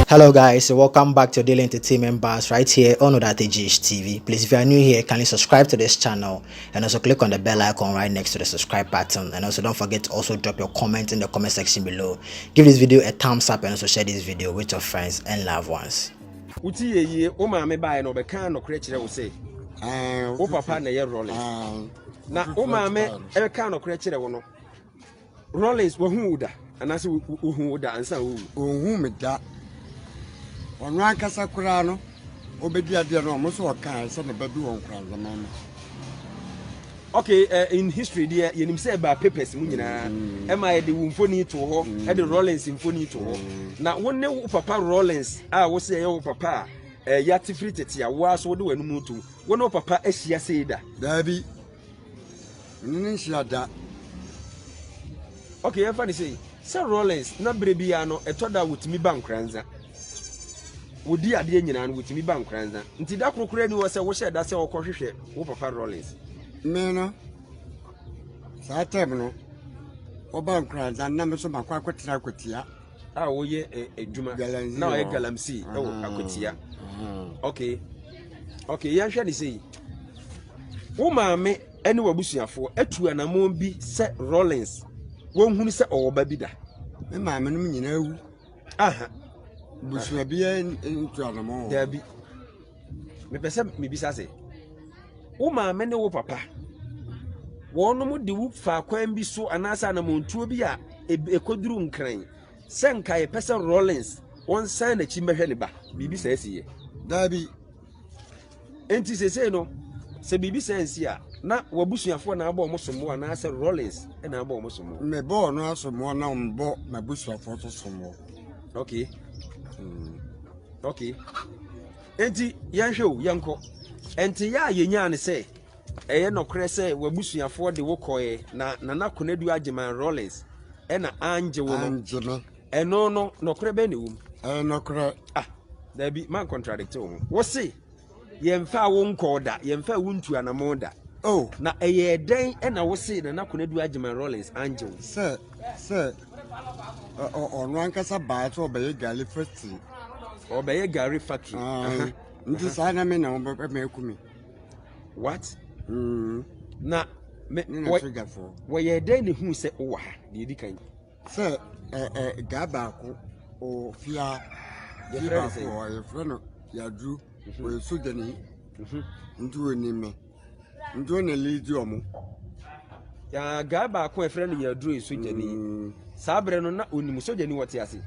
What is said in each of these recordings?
Hello guys, so welcome back to Daily Entertainment Bars right here on Odate GH TV. Please, if you are new here, kindly subscribe to this channel and also click on the bell icon right next to the subscribe button. And also don't forget to also drop your comment in the comment section below. Give this video a thumbs up and also share this video with your friends and loved ones. Uti ye ye, o maame bae no bɛka nokorɛ kyerɛ wo sɛ wo papa na ɛyɛ rɔle na wo maame ɛbɛka nokorɛ kyerɛ wo no Rollins, wɔhu wo da anaasɛ wohu wo da ansa wowu? Wɔhu me da. Ɔno ankasa koraa no, ɔbɛdi adeɛ no ɔmo sɛ ɔkaa sɛ ne bɛbi wɔn koraa nzɛmɛn no. Okay, uh, in history deɛ yɛnim sɛ ɛbaa papers mu nyinaa mm. ɛma mm. yɛde wo mfoni to hɔ mm. ɛde Rollins mfoni to hɔ mm. na wo ne wo papa Rollins a wo sɛ ɛyɛ wo papa a ɛɛ eh, yɛate firi tete a wo aso wode w'anum to wo ne wo papa ahyia sei da. daabi Me ne no nhyia da. Okay, yɛmfa no sei. Sɛ Rawlings na berɛ biara no ɛtɔ da a wɔtumi ba Nkoranza. Wɔdi adeɛ nyinaa no wɔtumi ba Nkoranza. Nti da koro koraa ni hɔ sɛ wohyɛ da sɛ wɔkɔhwehwɛ wo papa Rawlings. Me no, saa tɛm no wɔba Nkoranza na me nso makɔ akɔtena akwatia. A wɔyɛ eh, adwuma na wɔyɛ galamsey wɔ akwatia. Okay, okay, yɛnhwɛ no sei. Wo maame ne w'abusuafoɔ atu anammɔn bi sɛ Rawlings wɔnhunu sɛ ɔwɔ ba bi da. Me maame nom nyinaa wu. Aha. Busua biara ntu anammɔn wɔ. Daabi. Mepɛ sɛ mebisa sɛ, wo maame ne wo papa, wɔnom de wo faa kwan bi so anaasɛ anammɔntuo bi a ɛkɔduru nkran sɛ nka yɛpɛ sɛ Rawlings wɔnsan n'akyi mmɛhwɛ ne ba. Biribi saa si yɛ. Daabi. nti sesei no sɛ biribi sɛ nsi a na wabusuafoɔ na abɔ wɔn sombo anaasɛ rollins na abɔ wɔn sombo. mebɔ ɔno asombo na mebɔ m'abusuafoɔ nso sombo. okay mm. okay nti yɛnhwɛ o yɛnkɔ nti yɛ a yɛnyaa ne sɛ ɛyɛ nɔkorɛ sɛ wabusuafoɔ de wo kɔɛ na nana konadu agyeman rollins ɛna angye wo no angye me Ɛno no, nɔkorɛ bɛn na ɛwɔ mu? Ɛyɛ nɔkorɛ. Ah, daabi, man contradict wo ho. Wo se, yɛmfa wo nkɔɔ da, yɛmfa wo ntu anamɔn da. Oh. Na ɛyɛ dɛn ɛna wo se Nana Konadu Agyeman Rawlings angye wo? Sɛ, sɛ, ɔno ankasa baa sɛ ɔbɛyɛ gari factory. Ɔbɛyɛ gari factory. Ah, nti saa na me na wɔbɛma aku me. What? Mm. Na, me, wɔyɛ dɛn na ɛhu sɛ wowɔ ha, deɛ ɛdi kan? Sɛ gya baako ɔwɔ fie a fie baako wɔ hɔ yɛfrɛ no yaduru mhm. ɔyɛ sogyani mhm. nti ɔni me nti ɔna lidi ɔmo gaa baako a yɛfrɛ no yaduru yɛ sogyani mm. saa berɛ no na ɔnim sogyani wɔte ase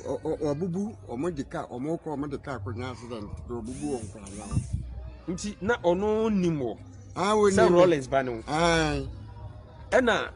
ɔbubu ɔmo de kaa ɔmo kɔ ɔmo de kaa kɔnya accident ɔbubu wɔn kɔ anya nti na ɔno nim wɔ sɛ rollins ba no ɛna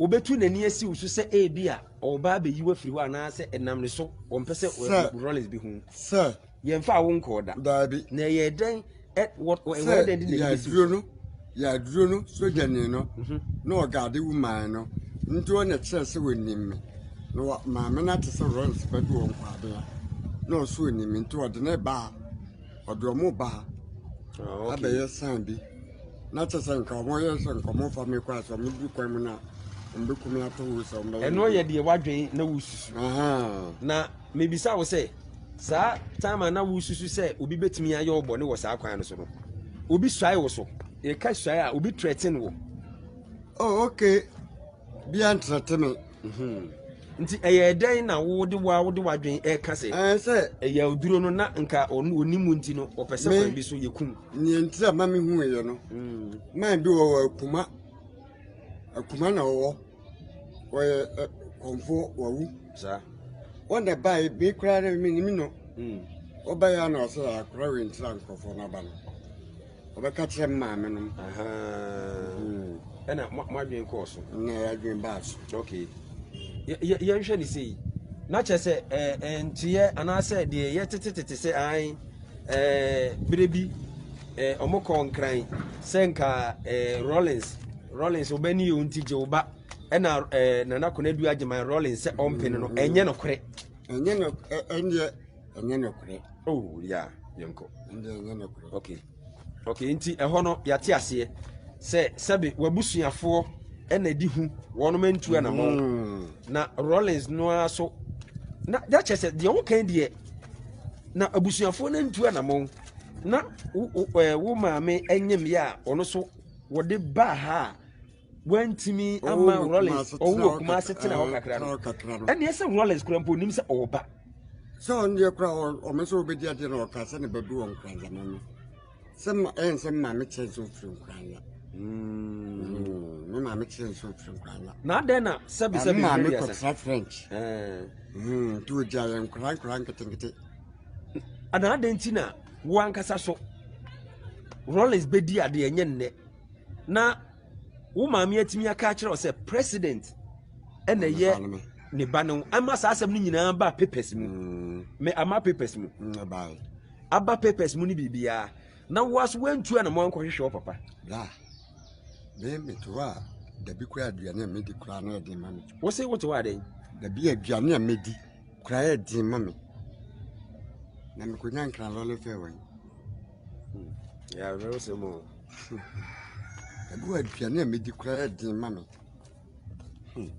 Obetu n'ani asi wo so sɛ ebia ɔreba abeyi wo afiri hɔ anaasɛ ɛnam ne so ɔmpɛ sɛ Rollins bi hu. Sɛ. Yɛmfa wo nkɔɔ da. Daabi. Na ɛyɛ dɛn ɛ wɔ ɛwɔ dɛn de n'ani besi wo so. Sɛ yɛaduro no yɛaduro no sogyani no mhm. na ɔgaade wo man no nti ɔna kyerɛ sɛ wɔnim me na wɔ maame no ate sɛ Rollins ba bi wɔ nkwaden a na ɔso ɔnim me nti ɔde ne baa ɔde ɔmo baa oh, abɛyɛ san bi. Na kyɛ sɛ nka wɔyɛ sɛ nka wɔmfa me kɔ a sɛ wɔdu kwan mu no a wɔbɛku me ato wo sɛ wɔbɛyɛ ɛno yɛ deɛ woadwen na wosusu na mebisa wo sɛ saa time a na wosusu sɛ obi bɛtumi ayɛ wo bɔne wɔ saa kwan no so no obi suae wo so yɛka suae a obi trɛten wo oh, okay bia ntrɛte me mhm. nti ɛyɛ dɛn na wode wa wode wadwen ɛka sɛ ɛyɛ oduro no na nka ɔnim nti no ɔpɛ sɛ kwan bi so yɛkum Nea nti a ma mehui yɛ no man bi wɔ wɔ akuma akuma na wɔwɔ wɔyɛ kɔmfoɔ wawu saa wɔn na bae me koraa no menim no wɔbaeɛ a na ɔsɛ yɛ akora wei ntira nkurɔfoɔ no aba no wɔbɛka kyerɛ me maame nom ɛna moadwen kɔɔ so na yɛadwen baa so okay yɛnhwɛ ne sei na kyerɛ sɛ nteɛ anaasɛ deɛ yɛtetetete sɛ an ɛɛ bere bi ɛɛ wɔn kɔɔ nkran sɛ nka ɛɛ rollins rollins ɔbɛ ni yɛn ti gye ɔba ɛna ɛɛ nana konadu agyeman rollins sɛ ɔmpene no ɛnyɛ no korɛ. ɛnyɛ no ɛnyɛ ɛnyɛ no korɛ. oh ya yɛn kɔ. ɛnyɛ ɛnyɛ no korɛ. okay okay nti ɛhɔ no yate aseɛ sɛ sɛbi wabusuafoɔ ɛna ɛdi hu wɔn mɛ ntu anamɔ mm. na rollins no ara so na yɛakyɛ sɛ deɛ wɔn kan deɛ. na abusuafoɔ no antu anamɔn na wo wo ɛɛ wo maame nyem yɛ a ɔno so wɔde baa ha a wantumi ama Ɔwɔ rollins Kumasi ɔwɔ tena wɔ hɔ kumase kakra- tena hɔ ɛɛ, kakra tena no hɔ kakra no ɛneɛ sɛ rollins kora mpo onim sɛ ɔwɔ ba sɛ ɔno deɛ kora ɔme sɛ wobɛdi adeɛ na ɔka sɛ ne badu wɔ nkranzama no sɛ ma ɛyɛ nsɛ me maame kyerɛ nsɛ ofiri nkura nya mm. me maame kyerɛ nsɛ ofiri nkura nya na adɛn na sɛbi sɛbi maame kɔtra french nti ogya yɛ nkura nkura nketenkete ana adɛn nti na wo ankasa so rollins bɛdi ade ɛnyɛ nnɛ na wo maame atumi aka akyerɛ wo sɛ president ɛna ɛyɛ ne ba no ama saa asɛm no nyinaa ba papers mu mm. me ama papers mu mm, aba papers mu ne biribiara na wo aso woantu anamɔ ankɔhwehwɛ wo papa bra me mete hɔ a dabi koraa aduane a medi koraa na ɛden ma me wo se wote hɔ adɛn dabi aduane a medi koraa ɛden ma me na mekɔnya nkra lɔle fɛ wɔ hmm. yɛwerɛ wo sɛ mu dabi wɔ aduane a medi koraa ɛden ma me hmm.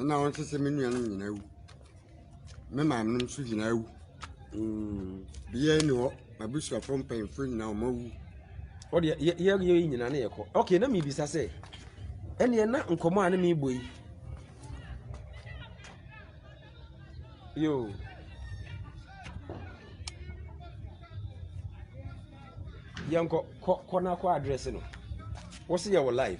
na wo nso sɛ me nua no nyinaa wu Me maame no nso nyinaa awu. Obiara nni hɔ. M'abusuafo mpanyimfo nyinaa wɔawu. Hɔ deɛ yɛ yɛ yɛ nyinaa na yɛkɔ. Okay, na mebisa sɛ, ɛnneɛ na nkɔmmɔ a ne mebɔ yi yo yɛnkɔ kɔ kɔ na kɔ address no wo se yɛwɔ live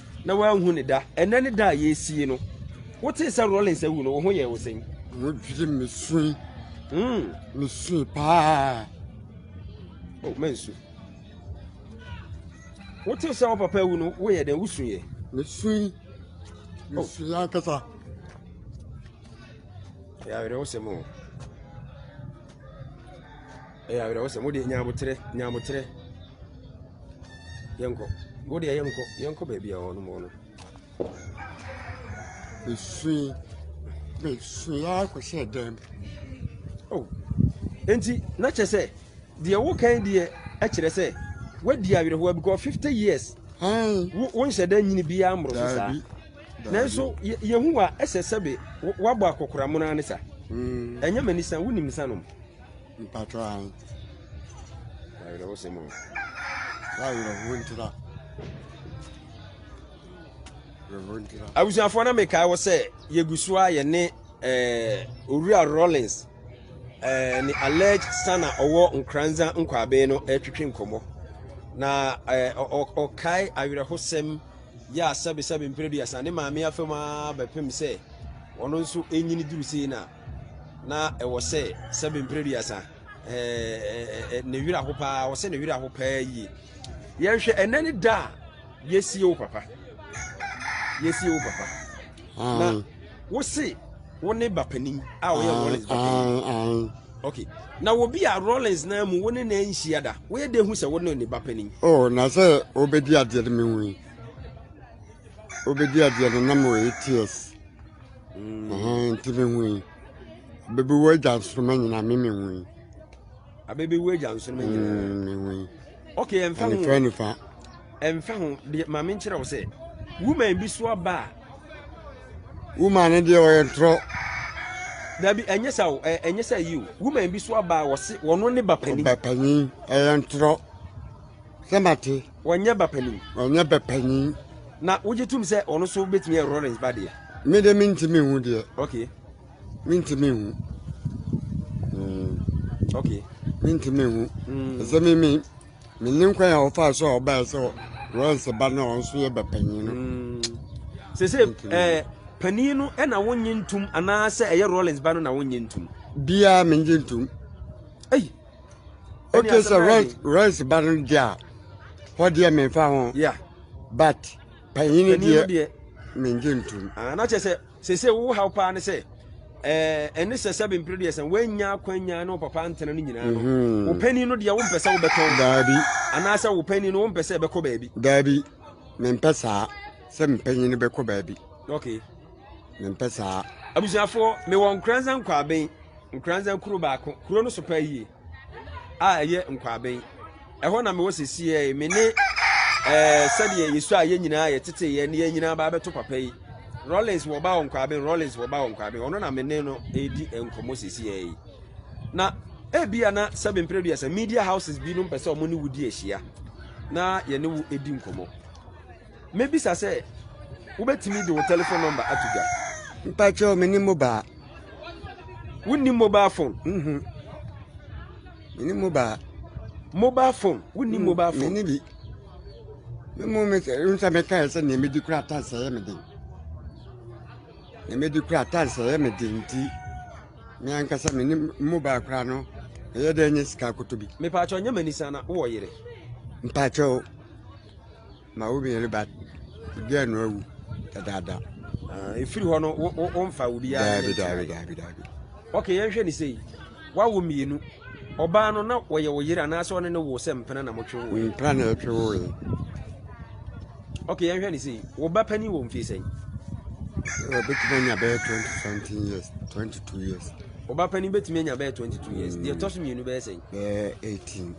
na wanhu ne da. Ɛnɛ ne da a yɛresi yi no, wotee sɛ Rawlings awu no, wo ho yɛɛ wo sɛn? Wo gyiri mesui. Mm. Mesui paa. Oh, mansu. Wotee sɛ wo papa awu no, woyɛ dɛn? Wosuiɛ? Mesui. Mesui ankasa. Ɛyɛ awerɛhosɛm o. Ɛyɛ awerɛhosɛm. Wode nyaboterɛ, nyaboterɛ. Yɛnkɔ. Wo deɛ yɛnkɔ. Yɛnkɔ baabi a wɔnom wɔ no. Mesui. Mesui ara kɔhyɛɛ dan mu. Oh. Enti na kyerɛ sɛ deɛ wokan deɛ kyerɛ sɛ woadi awerɛhoɔ because fifty years wo nhyɛ dan nyini biara mmoro so saa nanso yɛhu wa ɛsɛ sɛbe woabɔ akɔkoramono ara ne sa hmm. ɛnyɛ m'ani sa wonim nsa nom Mpatsɔ ahen. Awerɛhosɛm o. W'awerɛhow ntra. Awerɛhow ntra. abusuafoɔ na mekae wɔ sɛ yɛgu so a yɛne eh, owura rollins eh, ne alleged son a ɔwɔ nkranza nkwaabee no ɛretwetwe nkɔmmɔ na eh, ɔ- ɔ- ɔkae awerɛhosɛm yɛ a sɛbesɛbe mprɛ duasa ne maame afam a bɛpem sɛ ɔno nso ɛnyini duru sei no a na ɛwɔ sɛ sɛbe mpere duasa ɛɛ ne wira ho paa ɔsɛ ne wira ho paa yie yɛhwɛ ɛnɛ ne da a yɛsie wo papa yɛsie wo papa na mm. wo se wo ne bapanin a ɔyɛ mm, rollins bapanin mm, ok na obi a rollins na mu wo ne na nhyia da woyɛ de hu sɛ wo ne ne bapanin oh na sɛ wobɛdi adeɛ no mehu yi wobɛdi adeɛ no na mewɔ ats Ɛhɛn, ntsi me hu yi. Bebew egya nsoromma nyina, me me hu yi. Abebew egya nsoromma nyina. Mm, me hu yi. Okay, ɛmfa ho. Ɛnfa nifa. Ɛmfa ho, deɛ maame nkyerɛ wo sɛ, woman bi so aba a. Woman no deɛ ɔyɛ ntorɔ. Dabi, ɛnyɛ sɛ o, ɛnyɛ sɛ yi o. Woman bi so aba a wɔse wɔno ne ba panin. Ba panin, ɛyɛ ntorɔ. Sɛ mate. Wɔnyɛ ba panin. Wɔnyɛ ba panin. Na wogye tom sɛ ɔno so bɛtumi yɛ Lawrence ba deɛ. Me de mentumi hu deɛ. Okay. Mentumi hu. Hmm. Okay. Mentumi hu. Hmm. Ɛsɛ me me me ne nkwan a wɔfaa so a wɔbaeɛ sɛ Lawrence ba no a ɔno so yɛ ba panin no. Hmm. Sɛ sɛ ɛɛ eh, panin no ɛna wonye ntum anaasɛ ɛyɛ Lawrence ba no na wonye ntum. Biara menye ntum. Ɛyi. okay sɛ rice rice ba no deɛ a hɔ deɛ memfa ho but panyini deɛ mengye ntom ah, na kyɛ sɛ sese wo haw paa ne sɛ eh, ɛne sɛ sɛ bempere deɛ sɛ woanya akwanya ne wo papa ntena no nyinaa no mhm. wo panin no deɛ wompɛ sɛ wobɛtɔn daabi anaasɛ wo panin no wompɛ sɛ ɛbɛkɔ baabi daabi mempɛ saa sɛ mpanyin no bɛkɔ baabi okay mempɛ saa abusuafoɔ mewɔ nkoransa nkwaben Nkoranza kurow baako, kurow no so paa yie a ɛyɛ Nkwaben. Ɛhɔ na mewɔ sesie yi, me ne ɛɛ sɛdeɛ yɛsu a yɛn nyinaa yɛtete yɛn ne yɛn nyinaa ba abɛto papa yi. Rollins wɔ ba wɔ Nkwaben, Rollins wɔ ba wɔ Nkwaben, ɔno na me ne no redi nkɔmmɔ sesie yi. Na ebi a na sɛbi mpereduasa media houses binom pɛ sɛ wɔn ne wo di ahyia na yɛne wo di nkɔmmɔ. Mɛbisa sɛ wobɛtumi de wo telephone number ato dwa. Mpakyɛw me ne mobile. Wonni mobile phone? Mhm. Me ne mobile. Mobile phone? Wonni mm, mobile phone? Me ne bi. Me mo me sɛ nsa me kae sɛ nea medi kura ata sɛ yɛ me den. Nea medi kura ata sɛ yɛ me den nti. Me ankasa me ne mobile kura no. Ɛyɛ dɛ nye sika akoto bi. Mepakyɛw nyɛ m'ani sana wɔ yere. Mpakyɛw. ma wo bɛyɛ ba bia no awu dadaada ah, ɛfiri hɔ no womfa wo biara daabi daabi daabi daabi ok yɛnhwɛ ne sei wawo mmienu ɔbaa no na wɔyɛ wo yere anaasɛ ɔne ne wo sɛ mpena na motwe wo mpena na ɛtwe wo ye ok yɛnhwɛ ne sei wo ba pani wɔ mfie sɛn ɔbɛtumi anya bɛyɛ 20 something years 22 years ɔba pani bɛtumi anya bɛyɛ 22 years deɛ ɛtɔ so mmienu bɛyɛ sɛn bɛyɛ 18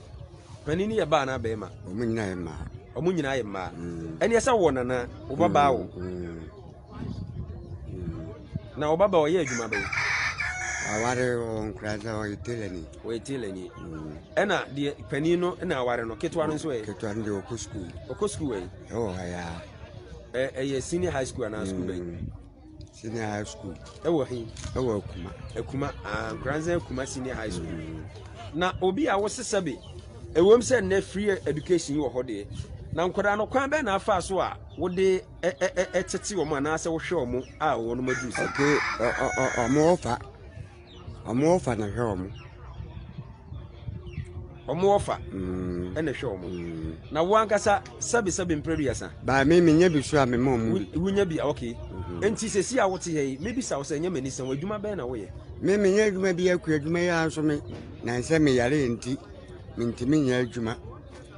Panin no yɛ baa anaa bɛrima? Wɔn nyinaa yɛ mmaa. Wɔn nyinaa yɛ mmaa. Mm. Ɛne ɛsɛ wɔ nana wo ba baa wo. Mm. Mm. Na wo ba baa ɔyɛ adwuma bɛyɛ. Aware ɔnkura sɛ ɔyɛ telani. Ɔyɛ telani. Ɛna deɛ panin no na aware no ketewa no nso ɛ. Ketewa no deɛ ɔkɔ sukuu. Ɔkɔ sukuu ɛ. Ɛwɔ ha ya. Ɛyɛ senior high school anaa sukuu bɛyɛ. Senior high school. Ɛwɔ he? Ɛwɔ Akuma. Akuma, ah, Nkoranza Akuma senior high school. Mm. Na obi a wosesa bi, ɛwom sɛ nnɛ free education wɔ hɔ deɛ, na nkwadaa no kwan bɛn na afa so a wode ɛtete wɔn anaasɛ wohwɛ wɔn a wɔn aduru sɛ. Okay, ɔmo ɔfa. Ɔmo ɔfa na ɛhwɛ ɔmo. Ɔmo ɔfa mm. ɛna ɛhwɛ ɔmo. Mm. Na wo ankasa sɛbi sɛbi mpere duasa. Baa mi mi nya bi so a mi ma ɔmo bi. Wo nya bi a ok. Mhm. Nti sɛ si a wote yɛ yi mi bi sa wo sɛ ɛnyɛ mɛ nisɛn adwuma bɛn na woyɛ. Mi mi nya adwuma bi akua adwuma yi ara nso mi na nsɛ mi yare nti mi ntumi nya adwuma.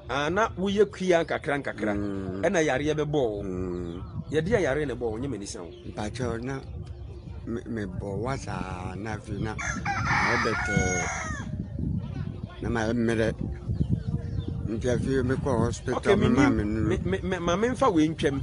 Ah, na woyɛ kua nkakra nkakra mm. ɛna yareɛ bɛbɔ wo mm. yɛde a yareɛ na ɛbɔ wo nyɛ m'ani sa wo mpakyɛ na mebɔ wa saa na afei na mɛbɛtɛɛ na mayɛ mmerɛ nti afei mekɔ hospital mema me nuru ma memfa wei ntwam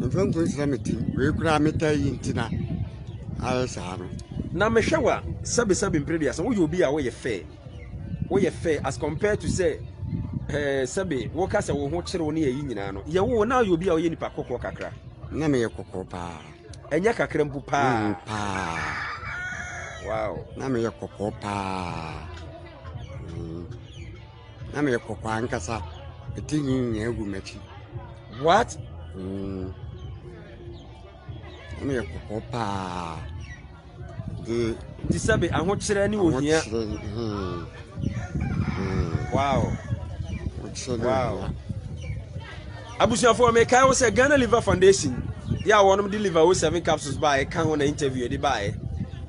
Mfa ngu nsra me ti. Wei koraa me taa yi nti na ayɛ saa no. Na mehwɛ wa sɛbi sɛbi mpere bi asa. Woyɛ obi a woyɛ fɛ. Woyɛ fɛ as compared to sɛ ɛɛ eh, sɛbi woka sɛ wo ho kyerɛ wo ne yɛ yi nyinaa no. Yɛ wo na yɛ obi a woyɛ nipa kɔkɔɔ kakra. Na meyɛ kɔkɔɔ paa. Ɛnyɛ kakra mpo paa. Mm, paa. Wow. Na meyɛ kɔkɔɔ paa. Mm. na meyɛ kɔkɔɔ ankasa me ti nwi nyinaa gu m'akyi what mm. na meyɛ kɔkɔɔ paa de nti sɛbe ahokyerɛ ne ohia ahokyerɛ hmm, hmm. wow ahokyerɛ ne wow. ohia abusuafoɔ mekae wo sɛ ghana liver foundation yɛ a wɔnom de liver o seven capsules baa ɛka ho na interview yɛde baeɛ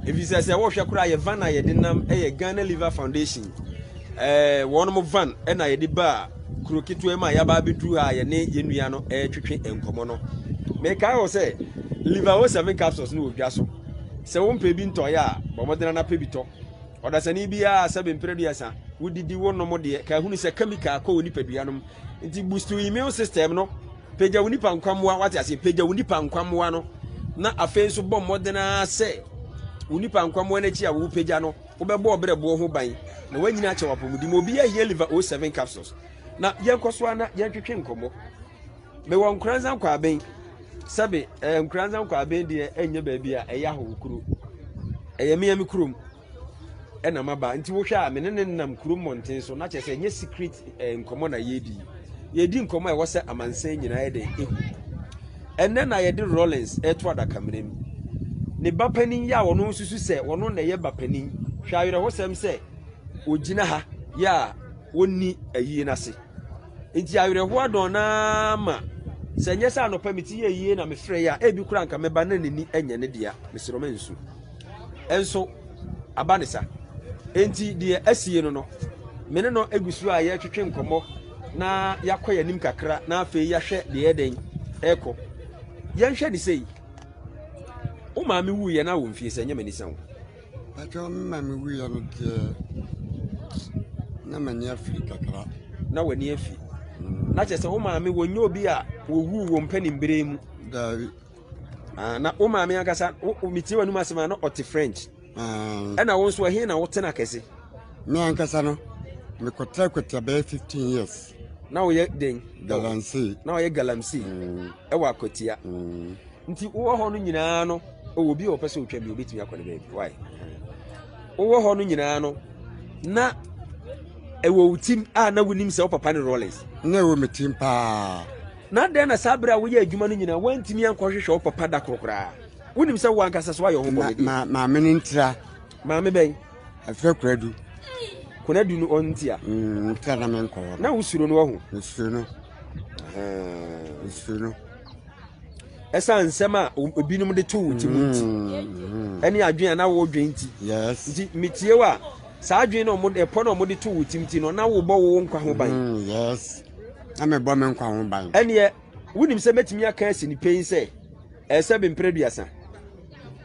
ɛfiri sɛ sɛ wohwɛ koraa yɛ van a yɛde nam ɛyɛ ghana liver foundation Ɛɛ, wɔn van na yɛde baa kuro ketewa mu a yɛaba abɛduru ha a yɛne yɛn nua no retwetwe nkɔmmɔ no. Mekae wɔ sɛ liver o seven capsules no wɔ dwa so. Sɛ wompɛ bi ntɔeɛ a, bɔ mmɔden ara na pɛ bi tɔ. Ɔdasani biara sɛbe mprɛ aduasa, wodidi wonom deɛ, ka hunu sɛ chemical kɔ wo nipadua no mu. Nti boost wo immune system no, pagya wo nipa nkwammoa, wate aseɛ, pagya wo nipa nkwammoa no, na afei nso bɔ mmɔden ara sɛ wo nipa nkwammoa no akyi a wopagya no, Wobɛbɔ ɔbrɛboɔ ho ban na woanyini akyɛ w'apɔmuden mu. Obiara hia Liver 07 capsules. Na yɛnkɔ so ana yɛntwetwe nkɔmmɔ. Mewɔ Nkoranza Nkwaaben. Sɛbe eh, Nkoranza Nkwaaben deɛ ɛnyɛ baabi a ɛyɛ ahɔ kuro. Ɛyɛ mmea me kurom ɛna maba. Nti wohwɛ a me ne ne nam kuro mmɔnten so na kyerɛ sɛ ɛnyɛ secret eh, nkɔmmɔ na yɛredi. Yɛredi nkɔmmɔ a ɛwɔ sɛ amansan nyinaa yɛ dɛn ehu. Ɛnnɛ na yɛde Rawlings reto adakamena mu. Ne ba panin yɛ a ɔno nsusu sɛ ɔno na ɛyɛ ba panin. Hwɛ awerɛhosɛm sɛ ogyina ha yɛ a ɔnni ayie no ase. Nti awerɛhoɔ adɔn naa ma sɛ nyɛ sɛ anɔpa mete yɛ yie na mefrɛ yɛ a ebi kora nka mɛba na n'ani nyɛ ne dea. Mesrɛ ɔma nsu. nso aba ne sa. Enti deɛ asie no no, me ne no gu so a yɛretwetwe nkɔmmɔ na yɛakɔ yɛn anim kakra na afei yɛahwɛ deɛ ɛyɛ dɛn ɛrekɔ. Yɛnhwɛ ne sei. Wo maame wuiɛ na wo mfie sɛ nyɛ m'ani sa wo. Patwɛ me maame wuiɛ no deɛ na m'ani afiri kakra. Na w'ani afi. Mm. Na kyerɛ sɛ wo maame wɔnyɛ obi a wɔwuu wɔ mpanim bere mu. Daabi. Ah, na wo maame ankasa metie w'anom asɛm a na ɔte french ah. ɛna wo nso ɛhe na wotena kɛse me ankasa no mekɔtra kɔtra bɛyɛ 15 years na woyɛ den galamsey na woyɛ galamsey mm. ɛwɔ akwatia mm. nti wowɔ hɔ no nyinaa no ɔwɔ bi a ɔpɛ sɛ ɔtwa bi ɔbɛtumi akɔ ne baabi wae wowɔ hɔ no nyinaa no na ɛwɔ wo tim a na wonim sɛ wo papa ne rollins na ɛwɔ me tim paa Na adɛn na saa bere a woyɛɛ adwuma no nyinaa woantumi ankɔhwehwɛ wo papa da koro koraa? Wonim sɛ wo ankasa so ayɛ ɔhokɔ bɛdeɛ. Ma, ma, maame no ntira. Maame bɛn? Afrɛ Kuradu. Kuradu no ɔntia? Mm, ntira na menkɔ hɔ. Na wosuro no wahu? Mesuro no. Mesuro no. ɛsiane nsɛm a ebinom de to wo ti mu nti mm-hmm. ɛne adwene a na wodwen nti nti metie wo a saa adwene na wɔde ɛpɔ na wɔde to wo ti mu ti no na wobɔ wo nkwa ho ban mm, na mebɔ me nkwa ho ban. Ɛneɛ, wonim sɛ mɛtumi aka asi ne pɛi sɛ ɛyɛ sɛ bemprɛ aduasa.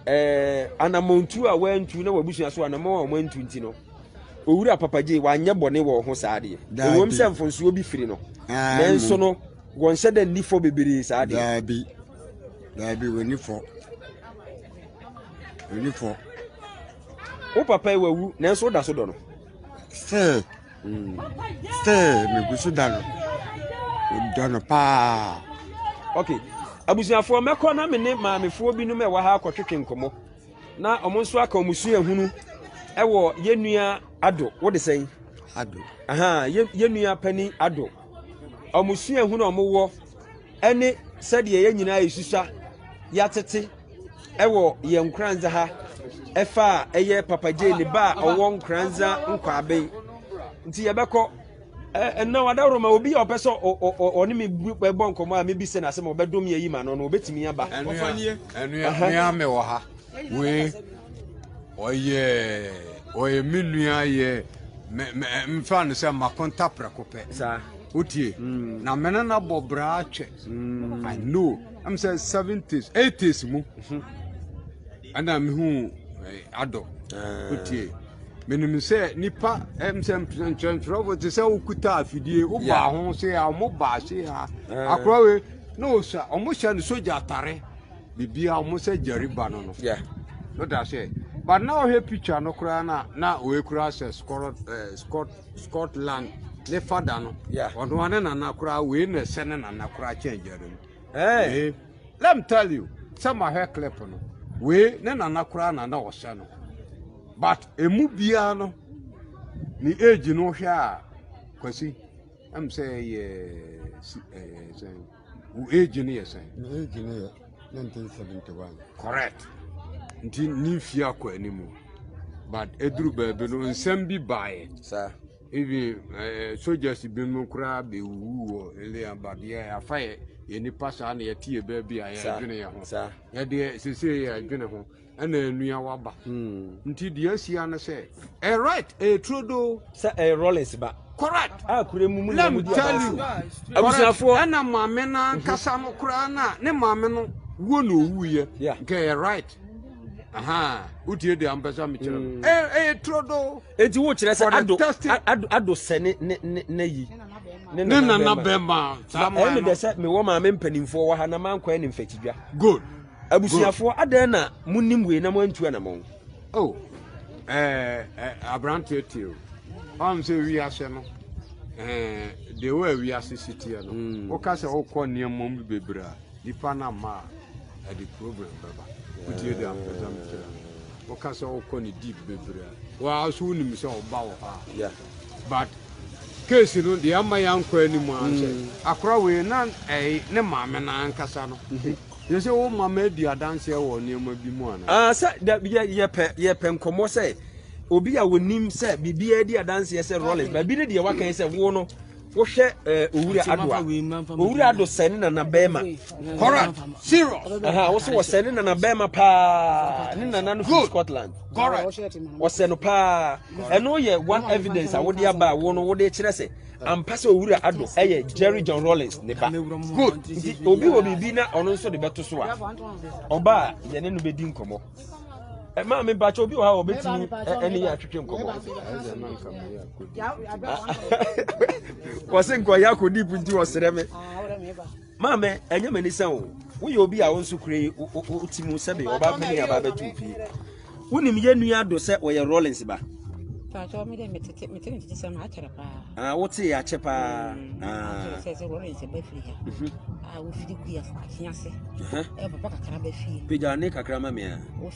Ɛɛ anamɔntu a wɔantu na wabusua so anamɔn a wɔantu nti no, owura papagye wanyɛ bɔne wɔ ho saa deɛ. Ɛwom sɛ mfonsoɔ bi firi no, nanso no wɔnhyɛ dɛ nni fɔ bebree saa deɛ. Daabi, daabi wɔnni fɔ, wɔnni fɔ. Wo papa yi wawu nanso woda so dɔ no. Still, still megu so da no. Dɔ no paa. Okay. Abusuafoɔ mɛkɔ na me ne maamefoɔ binom ɛwɔ ha akɔtwetwe nkɔmmɔ. Na wɔn nso aka wɔn suahunu ɛwɔ yɛn nua Ado. Wode sɛn? Ado. Aha, yɛn nua panin Ado. Wɔn suahunu a wɔwɔ ne sɛdeɛ yɛn nyinaa yɛsusua yɛatete wɔ yɛn nkoranza ha ɛfa a ɛyɛ papa gye ne ba a ɔwɔ nkoranza nkwaben nti yɛbɛkɔ ɛnna wadaworo ma obi a ɔpɛ sɛ ɔne me bɔ nkɔmmɔ a mebi sɛ n'asɛm a ɔbɛdom yɛ yi ma no no ɔbɛtumi aba ɛnua me wɔ ha wei ɔyɛ ɔyɛ me nua yɛ mfa no sɛ makonta prɛko pɛ wotie na me ne no abɔ bra atwɛ mm. i know ɛm sɛ seventies eighties mu mhm. ɛna mehu eh, adɔ eh. wotie menim sɛ nipa ɛm sɛ nkyerɛnkyerɛfo te sɛ wokuta afidie wobaa ho se a ɔmo baa se a eh. akorɔ we na ɔsa ɔmo hyɛ no sogya atare biribiaa ɔmo sɛ gyariba no no woda sɛ but na ɔhwɛ picture no koraa na na ɔɛkura sɛ scott Scotland ne fada no ɔno ara ne nana koraa wei na ɛsɛ ne nana koraa kyɛn Jeremy wei let me tell you sɛ mahwɛ clip no wei ne nana koraa na na ɔsɛ no but emu biara no ne age no hwɛ a kwasi ɛm sɛ ɛyɛ ɛɛ sɛ. Wo age no yɛ sɛn? Me age no yɛ 1971. Correct. Nti ne mfie akɔ anim. But eduru baabi no nsɛm bi baeɛ. Saa. Even uh, eh, soldiers binom koraa bɛwuwu wɔ Elean but yɛ afa yɛ yɛ nipa saa na yɛte yɛ baabi a yɛdwene yɛ ho. Saa. Yɛdeɛ sese yɛdwene ho. ɛna ɛnoa waba. Nti deɛ ahyia ne sɛ ɛyɛ right ɛyɛ turodoo. Sɛ ɛyɛ rollins ba. Correct. A kure mu mu na mu di abansi. Abusuafoɔ. Ɛna maame no ankasa no koraa na ne maame no wuo na owuiɛ. Nka ɛyɛ right. wotie deɛ ampɛ sɛ mekyerɛ no ɛyɛ turodoo. Enti wokyerɛ sɛ ado ado ado sɛ ne ne ne ne yi. Ne nana bɛrima. Ɛyɛ mi dɛ sɛ mewɔ maame mpanimfoɔ wɔ ha na mankɔ ɛne mfɛtidwa. Good. Abusuafoɔ, adɛn na monim wei na moantu anamɔn? O, aberanteɛ tie o. Ɔm sɛ wiase no, deɛ wɔ a wiase si teɛ no, mm. woka sɛ wokɔ nneɛma mu bebree a, nipa no ama a, ɛde problem bɛba. Wotie deɛ ampɛ sɛ mekyerɛ no. Woka sɛ wokɔ ne deep bebree a, wɔa so wonim sɛ ɔba wɔ hɔ a. But case no deɛ ama yɛankɔ anim a sɛ mm. akora wei na ne maame no ankasa no mm-hmm. Kyerɛ sɛ wo mma madi adanseɛ wɔ nneɛma bi mu anaa? Ah, sɛ da yɛ yɛpɛ yɛpɛ nkɔmmɔ sɛ obi a wɔnim sɛ biribiara di adanseɛ sɛ Rollins baabi ne deɛ wakan sɛ wo no wohwɛ eh, owura ado a owura ado sɛ ne nana bɛrima Correct. Serious. aha wo so wɔsɛ ne nana bɛrima paa ne nana no fi Good. Scotland Correct. wɔsɛ no paa ɛno yɛ one evidence a wode aba a wo no wode kyerɛ sɛ ampa sɛ owura ado ɛyɛ jerry john rollins ne ba good nti obi wɔ biribi na ɔno nso de bɛto so a ɔba a yɛne no bɛdi nkɔmmɔ maa me mpakyɛ obi wɔ ha wɔbɛtumi ɛne yɛ atwetwe nkɔmmɔ wɔse nkɔyɛ akɔdip nti wɔserɛ me Maame, ɛnyɛ m'ani sɛ wo. Woyɛ obi a wo nso kura yi wote mu sɛbe ɔba panin aba abɛto wo fie. Wonim yɛ nua do sɛ ɔyɛ Rollins ba. Paatɔ mi de mi tete mi tete mi tete sɛm akyerɛ paa. Ah, wo te akyɛ paa. Mm, ah, sɛ sɛ wɔrɔ nsɛ bɛ firi ha. Mhm. Ah, wo firi kua fo afi ase. Ɛhɛ. Eh. Ɛ eh, papa kakra bɛ fie. Pagya ne kakra ma mea.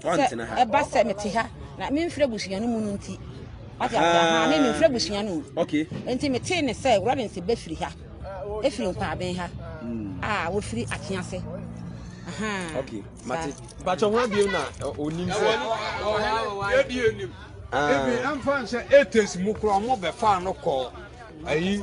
Sɛ ɛba sɛ mete ha na memfiri abusua no mu no nti. Wate ase aha me memfiri abusua no mu. Okay. Nti metee ne sɛ Lawrence bɛfiri ha. Ɛfiri nkwaaben ha. Hmm. A wɔfiri ate ase. Aha. Okay. Mate. Bàtchɛ ho abiem na onim sɛ. Yɛbie nim. Ebi ɛmfa nsɛ etes mu kura ɔmo bɛfa no kɔ ayi.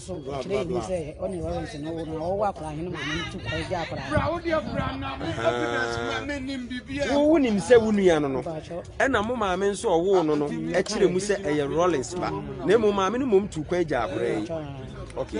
So ɔkyerɛ yɛ mu sɛ ɔne Lawrence no wo no ɔwɔ akwadaa hene maame no tu kwa agya akwadaa wowo nim sɛ wo nua no no ɛna mo maame nso ɔwoo no no ɛkyerɛ mu sɛ ɛyɛ Lawrence ba na mmom maame no mmom tu kwa agya akwadaa yi okay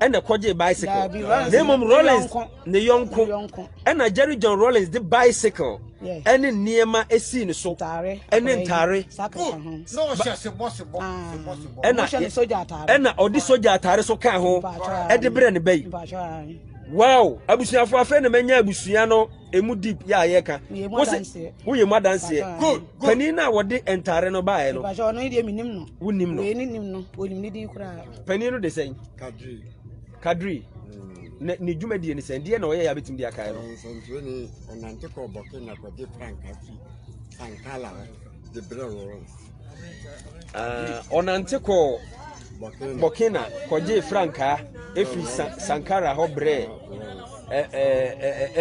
ɛna kɔgye bicycle na mmom rollins ne yɔnko ɛna jerry john rollins de bicycle ɛne nneɛma esii ne so ɛne ntaare ɛna ɛna ɔde sogya ataare so kaa ho ɛde brɛ ne ba yi wow abusuafo afei na manya abusua no emu deep yɛ a yɛka wosɛ woyɛ mu adanseɛ panin no a wɔde ntaare no baeɛ no wonim no Panin no de sɛn? Kadri. Kadri. Mm. Na ne dwumadie ne sɛn? Deɛ na ɔyɛ yɛ abɛtumi de akae no. Nsɛntwerɛ ni ɔnante kɔ bɔke na kɔgye franka fi sankala hɔ de brɛ Lawrence. Ah, ɔnante kɔ bɔkena kɔgye frankaa ɛfiri sankara hɔ brɛ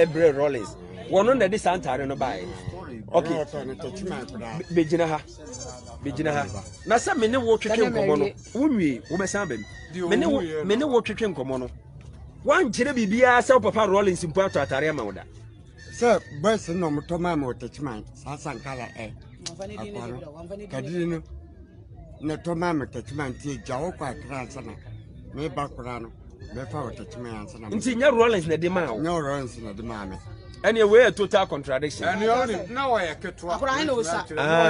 ɛbrɛ rollins wɔno na ɛde saa ntare no baeɛ ok bɛgyina ha megyina ha na sɛ me ne wo twetwe nkɔmmɔ no wonwie wobɛsan aba mu me ne wo me ne wo twetwe nkɔmmɔ no woankyerɛ biribiara sɛ wo papa rollins mpo atɔ atare ama wo da sɛ boys na ɔmotɔ maa ma ɔtakyiman saa sankala ɛ akwa no kadiri no na ɛtɔ maa ma ɔtakyiman nti agya wo kɔ akra ansa na meba koraa no mɛfa ɔtakyiman ansa na nti nyɛ rollins na ɛde maa wo nyɛ rollins na ɛde maa me ɛneɛ wei yɛ total contradiction ɛneɛ na ɔyɛ ketewa